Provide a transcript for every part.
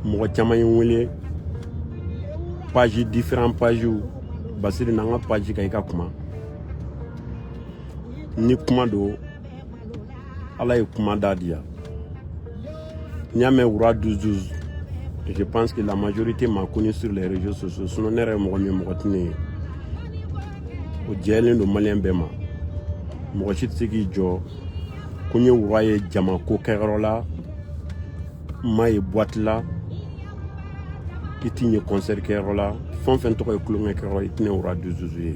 mɔgɔ caman ye n wele page différent pagew basiri na n ka page kan i ka kuma ni kuma don ala ye kuma da diya n'i y'a mɛn wura 12-12 je pense que la majorité m'a connu sur les réseaux sociaux sinon ne yɛrɛ ye mɔgɔ min mɔgɔ tɛ ne ye o jɛlen don maliyɛn bɛɛ ma mɔgɔ si tɛ se k'i jɔ ko n ye wura ye jama ko kɛyɔrɔ la n ma ye boîte la i tɛ n ye concert kɛyɔrɔ la fɛn o fɛn tɔgɔ ye tulonkɛ kɛyɔrɔ i tɛ ne wura 12-12 ye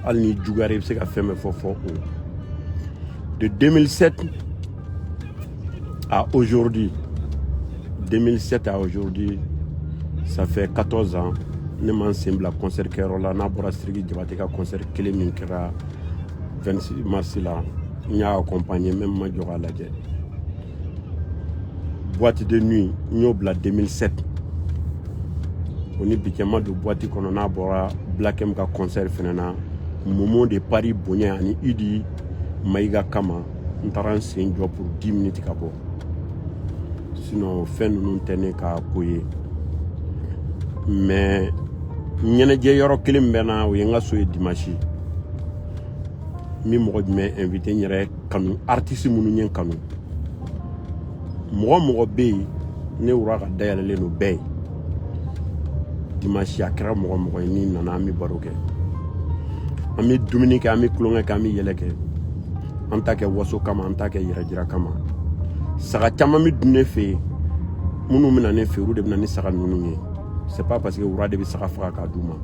hali n'i juguyara i bɛ se ka fɛn bɛɛ fɔ fɔ o de 2007 à aujourd'hui 2007 à aujourd'hui ça fait 14 ans ne ma n sen bila concert kɛyɔrɔ la n'a bɔra siriki jabate ka concert kelen min kɛra 26 mars la n y'a accompagner même n ma jɔ k'a lajɛ boîte de nuit n y'o bila 2007 o ni bi cɛ n ma don boîte kɔnɔ n'a bɔra black m ka concert fɛnɛ na momo de paris bonya ani idi mayiga kama n taara n sen jɔ pour 10 minutes ka bɔ sinon fɛn ninnu tɛ ne ka ko ye mais ɲɛnajɛ yɔrɔ kelen min bɛ n na o ye n ka so ye dimanche n bɛ mɔgɔ jumɛn inviter n yɛrɛ kanu artiste minnu ye n kanu mɔgɔ o mɔgɔ bɛ yen ne wura ka da yɛlɛlen don bɛɛ ye dimansi a kɛra mɔgɔ o mɔgɔ ye n'i nana an bɛ baro kɛ an bɛ dumuni kɛ an bɛ tulonkɛ kɛ an bɛ yɛlɛ kɛ an t'a kɛ waso kama an t'a kɛ yɛrɛjira kama saga caman bɛ dun ne fɛ yen minnu bɛ na ne fɛ olu de bɛ na ni saga ninnu ye c'est pas parce que wura de bɛ saga faga k'a d'u ma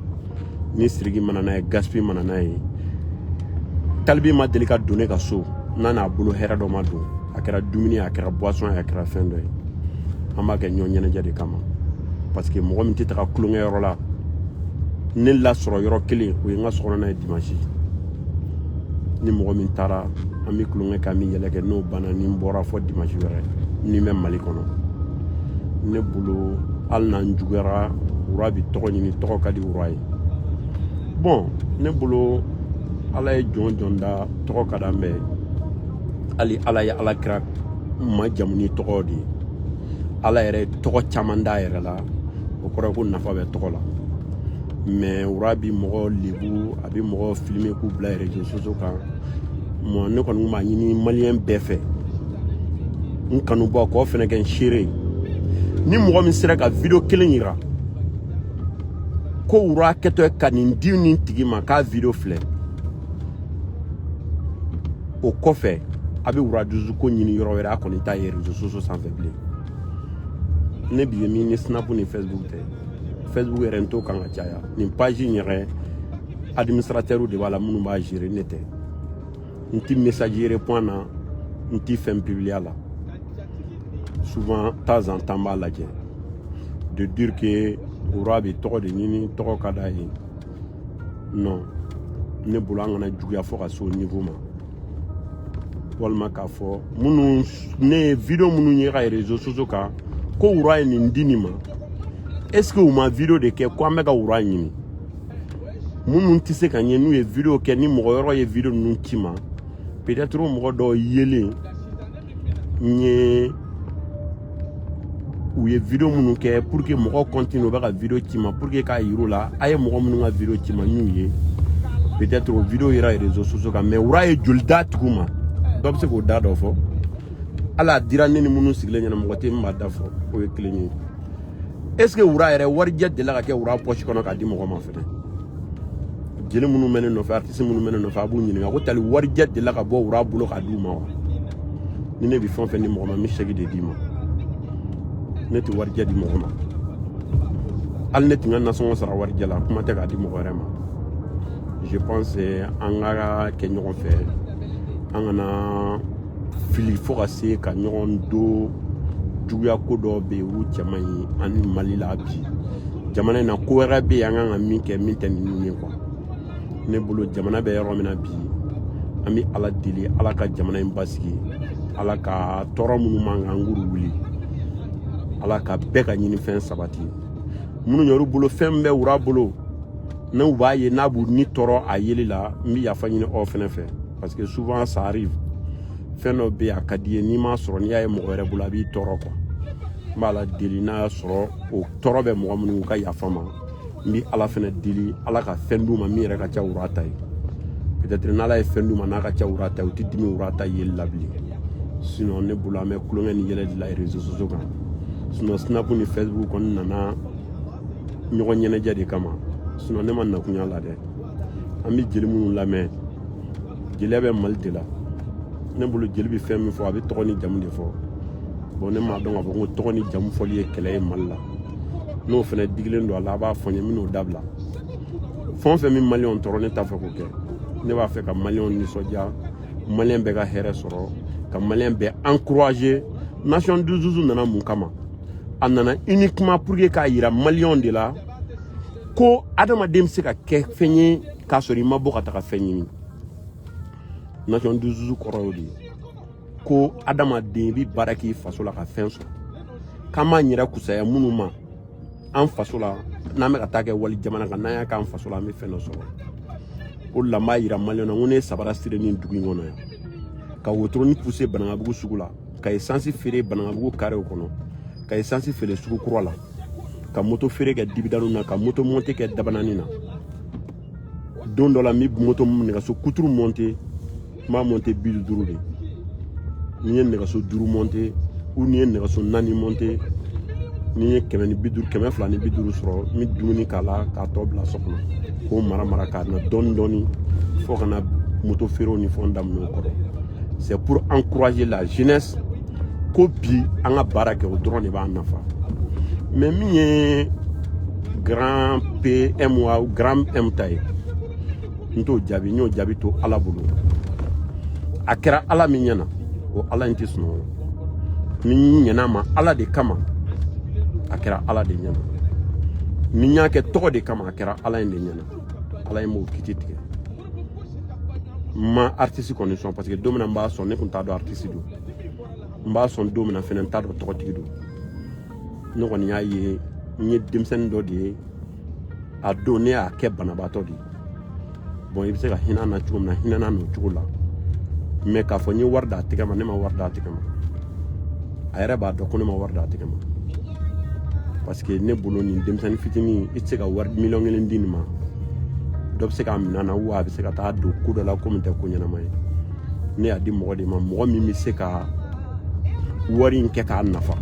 ni siriki ma na n'a ye gaspi ma na n'a ye tal b ma deli ka don ne ka so n'a n'a bolo hɛrɛ dɔ ma don a kɛra dumuni a kɛra boisson a kɛra fɛn dɔ ye an b'a kɛ ɲɔgɔn ɲɛnajɛ de kama parce que mɔgɔ min tɛ taga tulonkɛ yɔrɔ la ne lasɔrɔ yɔrɔ kelen o ye n ka sokɔnɔna ye dimansi ni mɔgɔ min taara an bɛ tulonkɛ kɛ an bɛ yɛlɛ kɛ n'o banna ni n bɔra fɔ dimansi wɛrɛ ni n bɛ mali kɔnɔ ne bolo hali n'an juguyara wura bɛ tɔgɔ ɲini tɔgɔ ka di wura ye bon ne bolo ala ye jɔn o jɔn da tɔgɔ ka d'an bɛɛ ye hali ala ye ala kira majamu ni tɔgɔ de ye ala yɛrɛ ye tɔgɔ caman d'a yɛrɛ la o kɔrɔ ko nafa bɛ tɔgɔ la mais wura bi mɔgɔ lebu a bi mɔgɔ filmer k'u bila réseaux sociaux kan moi ne kɔni kun b'a ɲini maliyɛn bɛɛ fɛ n kanubagaw fɛnɛ kɛ n seere ye ni mɔgɔ min sera ka video kelen yira ko wura kɛtɔ ka nin di nin tigi ma k'a video filɛ o kɔfɛ a bɛ wura douze ko ɲini yɔrɔ wɛrɛ a kɔni t'a ye réseaux sociaux sanfɛ bilen ne bi ye min ni snap ni facebook tɛ facebook yɛrɛ n t'o kan ka caya nin page in yɛrɛ administrateurs de b'a la minnu b'a gérer ne tɛ n ti message répond na n ti fɛn publier a la souvent temps en temps b'a lajɛ de dire que wura bɛ tɔgɔ de ɲini tɔgɔ ka d'a ye non ne bolo an kana juguya fɔ ka se o niveau ma walima k'a fɔ minnu ne ye video minnu ye ka réseaux sociaux kan ko wura ye nin di nin ma est ce que u ma video de kɛ ko an bɛ ka wura ɲini minnu tɛ se ka ɲɛ n'u ye video kɛ ni mɔgɔ yɔrɔ ye video ninnu ci ma peut être mɔgɔ dɔw yelen n ye u ye video minnu kɛ pour que mɔgɔw continue u bɛ ka video ci ma pour que k'a yir'u la a ye mɔgɔ minnu ka video ci ma n y'u ye peut être o video yera réseaux sociaux kan mais wura ye joli d'a tigiw ma dɔ bɛ se k'o da dɔ fɔ hali a dira ne ni minnu sigilen ɲɛ na mɔgɔ tɛ min b'a da fɔ o ye kelen ye est ce que wura yɛrɛ warijɛ delila ka kɛ wura pɔsi kɔnɔ k'a di mɔgɔ ma fɛnɛ jeli minnu bɛ ne nɔfɛ si minnu bɛ ne nɔfɛ a b'u ɲininka ko tali warijɛ delila ka bɔ wura bolo k'a d'u ma wa ni ne bɛ fɛn o fɛn di mɔgɔ ma n bɛ chèque de d'i ma ne tɛ warijɛ di mɔgɔ ma hali ne tɛ n ka nasɔngɔ sara warijɛ la kuma tɛ k'a di mɔgɔ wɛrɛ ma je pense an ka kɛ ɲɔgɔn fɛ an kana fili fo ka se ka ɲɔgɔn don juguya ko dɔ bɛ yen olu cɛ man ɲi ani mali la bi jamana in na ko wɛrɛ bɛ yen an kan ka min kɛ min tɛ ninnu ye quoi ne bolo jamana bɛ yɔrɔ min na bi an bɛ ala deli ala ka jamana in basigi ala ka tɔɔrɔ minnu b'an kan a k'olu wuli ala ka bɛɛ ka ɲinifɛn sabati minnu yɛrɛ bolo fɛn bɛ wura bolo n'u b'a ye n'a b'u ni tɔɔrɔ a yeli la n bɛ yafa ɲini aw fɛnɛ fɛ parce que souvent ça arrive fɛn dɔ bɛ yen a ka d'i ye n'i m'a sɔrɔ n'i y'a ye mɔgɔ wɛrɛ bolo a b'i tɔɔrɔ quoi n b'ala deli n'a y'a sɔrɔ o tɔɔrɔ bɛ mɔgɔ minnu ka yafa ma n bɛ ala fɛnɛ deli ala ka fɛn d'u ma min yɛrɛ ka ca wura ta ye peut-être n'ala ye fɛn d'u ma n'a ka ca wura ta ye u tɛ dimi wura ta yeli la bilen sinon ne bolo an bɛ tulonkɛ ni yɛlɛ de la réseaux sociaux kan sinon snap ni facebook kɔni nana ɲɔgɔn ɲɛnajɛ de kama sinon ne ma na kɔniya la dɛ an bɛ jeli minnu lamɛn jeliya bɛ mali de la ne bolo jeli bɛ fɛn min fɔ a bɛ tɔgɔ ni jamu de fɔ bon ne m'a dɔn k'a fɔ ko tɔgɔ ni jamu fɔli ye kɛlɛ ye mali la n'o fɛnɛ digilen don a la a b'a fɔ n ye n bɛn'o dabila fɛn o fɛn min maliyɛnw tɔɔrɔ ne t'a fɛ k'o kɛ ne b'a fɛ ka maliyɛnw nisɔndiya maliyɛn bɛɛ ka hɛrɛ sɔrɔ ka maliyɛn bɛɛ encourager nation du zuzu nana mun kama a nana uniquement pour que k'a yira maliyɛnw de la ko adamaden bɛ se ka kɛ fɛn ye k'a sɔrɔ i ma bɔ ka taga fɛn ɲini nation du zuzu kɔrɔ y'o de ye ko adamaden bi baara k'i faso la ka fɛn sɔrɔ k'an b'an yɛrɛ fusaya minnu ma an faso la n'an bɛ ka taa kɛ wali jamana kan n'an y'a k'an faso la an bɛ fɛn dɔ sɔrɔ o de la n b'a yira maliyɛn na n ko ne ye sabara siri nin dugu in kɔnɔ yan ka wotoroni puse banankabugu sugu la ka esansi feere banankabugu karew kɔnɔ ka esansi feere sugu kura la ka moto feere kɛ dibidani na ka moto monte kɛ dabanani na don dɔ la n bɛ moto nɛgɛso kuturu monte n b'a mɔnte bi duuru de n'i ye nɛgɛso duuru mɔnte ou n'i ye nɛgɛso naani mɔnte n'i ye kɛmɛ ni bi duuru kɛmɛ fila ni bi duuru sɔrɔ n bɛ dumuni k'a la k'a tɔ bila so kɔnɔ k'o mara mara ka na dɔɔni dɔɔni fo ka na moto feerew ni fɛnw daminɛ o kɔrɔ c'est pour encourager la jeunesse ko bi an ka baara kɛ o dɔrɔn de b'an nafa mais min ye grand PM ou grand M ta ye n t'o jaabi n y'o jaabi to ala bolo a kɛra ala min ɲɛna o ala in tɛ sunɔgɔ ni n ɲɛn'a ma ala de kama a kɛra ala de ɲɛna ni n y'a kɛ tɔgɔ de kama a kɛra ala in de ɲɛna ala in b'o kiti tigɛ n ma artiste kɔni sɔn parce que don min na n b'a sɔn ne tun t'a dɔn artiste don n b'a sɔn don min na fɛnɛ n t'a dɔn tɔgɔtigi don ne kɔni y'a ye n ye denmisɛnnin dɔ de ye a don ne y'a kɛ banabaatɔ de ye bon i bɛ se ka hinɛ na cogo min na hinɛ na n'o cogo la mais k'a fɔ n ye wari d'a tɛgɛ ma ne ma wari d'a tɛgɛ ma a yɛrɛ b'a dɔn ko ne ma wari d'a tɛgɛ ma parce que ne bolo nin denmisɛnnin fitinin i tɛ se ka wari miliyɔn kelen di nin ma dɔ bɛ se k'a minɛ na ou a bɛ se ka taa don ko dɔ la ko min tɛ ko ɲɛnama ye ne y'a di mɔgɔ de ma mɔgɔ min bɛ se ka wari in kɛ k'a nafa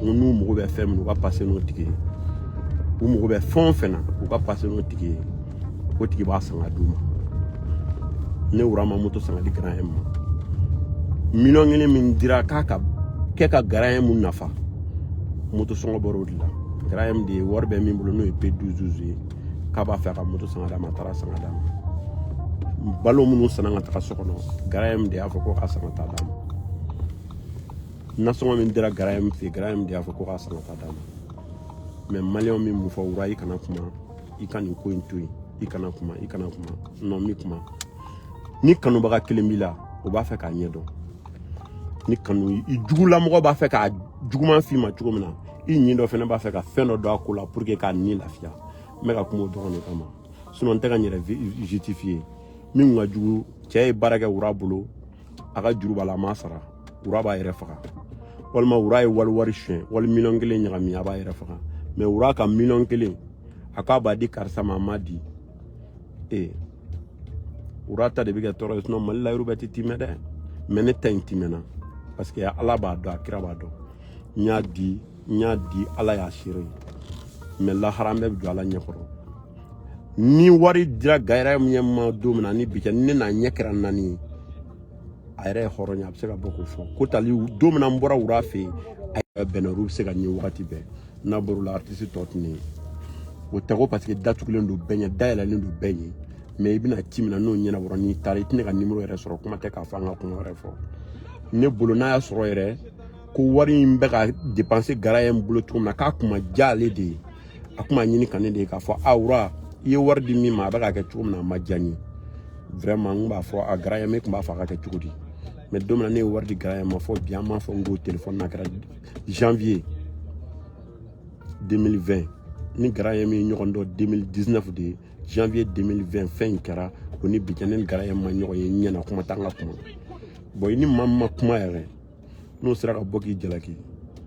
n'u mago bɛ fɛn min u ka pase n'o tigi ye u mago bɛ fɛn o fɛn na u ka pase n'o tigi ye o tigi b'a san ka d'u ma ne wura ma moto san ka di grand M ma miliyɔn kelen min dira k'a ka kɛ ka grand M nafa moto sɔngɔ bɔr'o de la grand M de ye wari bɛ min bolo n'o ye pe duzuzu ye k'a b'a fɛ ka moto san ka d'a ma a taara san ka d'a ma balo minnu sanna ka taga so kɔnɔ grand M de y'a fɔ ko k'a san ka taa d'a ma nasɔngɔ min dira grand M fɛ grand M de y'a fɔ ko k'a san ka taa d'a ma mais maliyɛnw min mun fɔ wura i kana kuma i ka nin ko in to yen i kana kuma i kana kuma non n bɛ kuma ni kanubaga kelen b'i la o b'a fɛ k'a ɲɛdɔn ni kanu i jugulamɔgɔ b'a fɛ k'a juguman f'i ma cogo min na i ɲin dɔ fana b'a fɛ ka fɛn dɔ don a ko la pour que k'a ni lafiya n bɛ ka kuma o dɔrɔn de kama sinon n tɛ ka n yɛrɛ justifier min ka jugu cɛ ye baara kɛ wura bolo a ka juru b'a la a m'a sara wura b'a yɛrɛ faga walima wura ye wali wari sonya wali miliyɔn kelen ɲagami a b'a yɛrɛ faga mais wura ka miliyɔn kelen a k'a b'a di karisa ma a m'a di ee wura ta de bɛ kɛ tɔɔrɔ ye sinon mali la yɔrɔ bɛɛ tɛ timɛ dɛ mais ne ta in timɛna parce que ala b'a dɔn a kira b'a dɔn n y'a di n y'a di ala y'a seere ye mais lahara an bɛɛ bɛ jɔ ala ɲɛ kɔrɔ ni wari dira gara ye ma don min na ni bi cɛ ni ne n'a ɲɛ kɛra naani ye a yɛrɛ ye hɔrɔn ye a bɛ se ka bɔ k'o fɔ ko tali don min na n bɔra wura fɛ yen a yɛrɛ bɛnna olu bɛ se ka ɲɛ wagati bɛɛ n'a bɔr'o la aritisi tɔ tɛ ne ye o tɛ ko parce que datugulen don bɛɛ ɲɛ dayɛlɛlen don bɛɛ ɲɛ mais i bɛna ci min na n'o ɲɛnabɔra n'i taara i tɛ ne ka nimɔrɔ yɛrɛ sɔrɔ kuma tɛ k'a fɔ an ka kuma wɛrɛ fɔ ne bolo n'a y'a sɔrɔ yɛrɛ ko wari in bɛ ka dépenser gara ye n bolo cogo min na k'a ko ma diya ale de ye a kuma ɲininka ne de ye k'a fɔ wura i ye wari di min ma a bɛ ka kɛ cogo min na a ma diya n ye vraiment n b'a fɔ a gara ye ne tun b'a fɔ a ka kɛ cogo di mais don min na ne ye wari di gara ye ma fɔ bi an m'a fɔ n ko telefɔni n'a kɛra janvier 2020 ni gara ye min ɲɔgɔn dɔn 2019 de ye janvier 2020 fɛn in kɛra o ni bi cɛ ne ni gara ye ma ɲɔgɔn ye ɲɛna kuma t'an ka kuma bon i ni maa min ma kuma yɛrɛ n'o sera ka bɔ k'i jalaki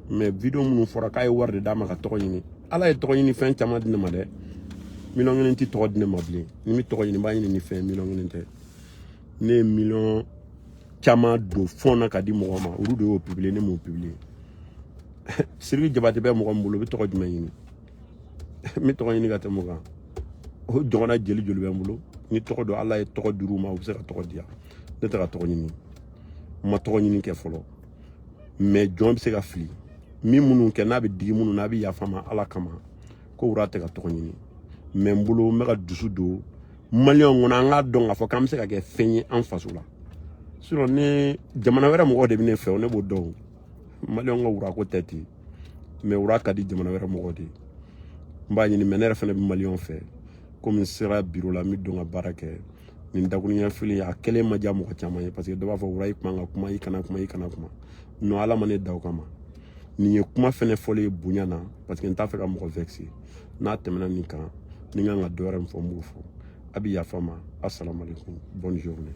mais vidéo minnu fɔra k'a ye wari de d'a ma ka tɔgɔ ɲini ala ye tɔgɔ ɲini fɛn caman di ne ma dɛ miliyɔn kelen tɛ tɔgɔ di ne ma bilen ni n bɛ tɔgɔ ɲini n b'a ɲini ni fɛn miliyɔn kelen tɛ ne ye miliyɔn caman don fɔn na ka di mɔgɔ ma olu de y'o publier ne m'o publier sidiki jabate bɛ mɔgɔ min bolo o bɛ tɔgɔ jumɛn ɲini n bɛ tɔgɔ ɲini ka tɛmɛ o kan o ɲɔgɔnna jeli joli bɛ n bolo ni tɔgɔ don ala ye tɔgɔ dir'u ma u bɛ se ka tɔgɔ di yan ne tɛ ka tɔgɔ ɲini n ma tɔgɔ ɲini kɛ fɔlɔ mais jɔn bɛ se ka fili min minnu kɛ n'a bɛ digi minnu na a bɛ yafa n ma ala kama ko wura tɛ ka tɔgɔ ɲini mais n bolo n bɛ ka dusu don maliyɛnw kɔnɔ an k'a dɔn k'a fɔ k'an bɛ se ka kɛ fɛn ye an faso la sinon ni jamana wɛrɛ mɔgɔw de bɛ ne fɛ o ne b'o dɔn maliyɛnw ka wura ko tɛ ten mais wura ka di jamana wɛrɛ mɔgɔw de ye n b'a ɲini mais ne yɛrɛ fana bɛ maliyɛnw fɛ komi n sera biro la n bɛ don ka baara kɛ nin dakurunya fila ye a kɛlen ma diya mɔgɔ caman ye parce que dɔ b'a fɔ wura i kuma ka kuma i kana kuma i kana kuma non ala ma ne da o kama nin ye kuma fɛnɛ fɔlen ye bonya na parce que n t'a fɛ ka mɔgɔ vexer n'a tɛmɛna nin kan ni n kan ka dɔ wɛrɛ min fɔ n b'o fɔ a bi yafa n ma asalamu aleykum bonne journée